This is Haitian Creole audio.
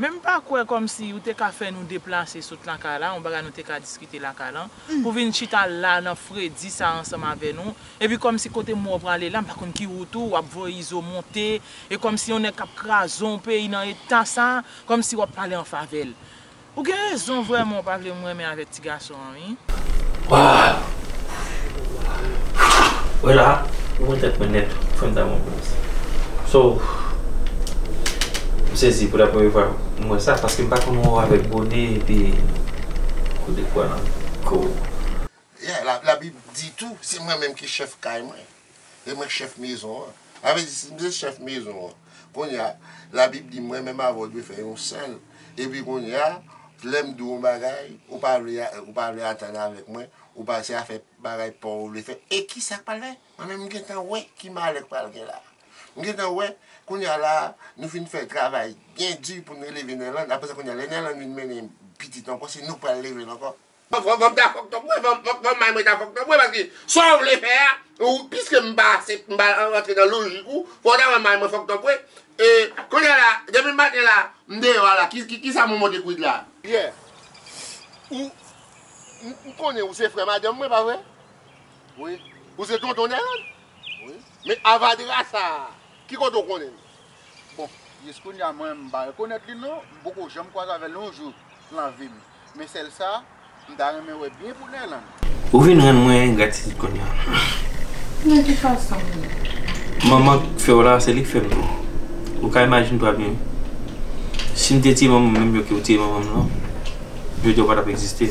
Men m pa kwè kòmsi ou te ka fè nou deplase sot lan kay la, yon bagay nou te ka diskite lan kay lan, pou vin chita la nan fredi sa ansanm avè nou, epi kòmsi kote mwen wè w prale la, m pa konn ki wout ou, w ap voye izo monte, e kòmsi yon nèg k ap kraze yon peyi nan eta sa, kòmsi w ap pale an favè l. Ou gen rezon vrèman ou pa vle m renmen avèk ti gason an wi. Waww wè la ou wè tèt mwen nèt ou fèm damou plis so m sezi pou la premye fwa m wè sa paske m pa konn wè w avèk bone epi kou de pwa nan kouw. Yeah, Labib di tou, Se mwen menm ki chèf kay mwen, e mwen chèf mezon an. Sa vle di, si m se chèf mezon an, kounye a, Labib di mwen menm avè w dwe fè yon sèl. Epi kounye a, lè m di w yon bagay, ou pa vle ou pa vle atann avèk mwen, ou pa se afè bagay pa w ou vle fè, e ki sa k pral fèt? Mwen menm m gen tan wè ki malè k pral gen la a. M gen tan wè, kounye a la a, nou fin fè travay byen di pou n eleve Nèland, apre sa kounye a, lè Nèland vin mennen pitit ankò, se nou k pral leve l ankò. Fòk m ta fòk tòp wi, fòk manman mwen ta fòk tòp wi paske sa w vle fè a, piske m pa rantre nan lojik ou, fòk w ta wè manman mwen fòk tòp wi. Kounye la, depi maten la, m deyò a la, kisa m monte kwit la? Pierre, Ou, m konnen ou se frè madanm mwen, pa vre? Wi. Ou se tonton Nèlande? Wi. Men avadra sa a, ki kote w konnen l? Bon, jiskounya mwen m pa rekonèt li non, m poko janm kwaze avè l yon jou lan vi m. Men sèl sa, m ta renmen wè byen pou Nerlande. Ou vin rann mwen engratitid kounya. Nan ki fason menm? Manman k fè w la, se li k fè m tou. Ou ka imajine twa byen. Si m te tiye manman m menm jan ke w tiye manman m lan, jodi a w pa t ap egziste.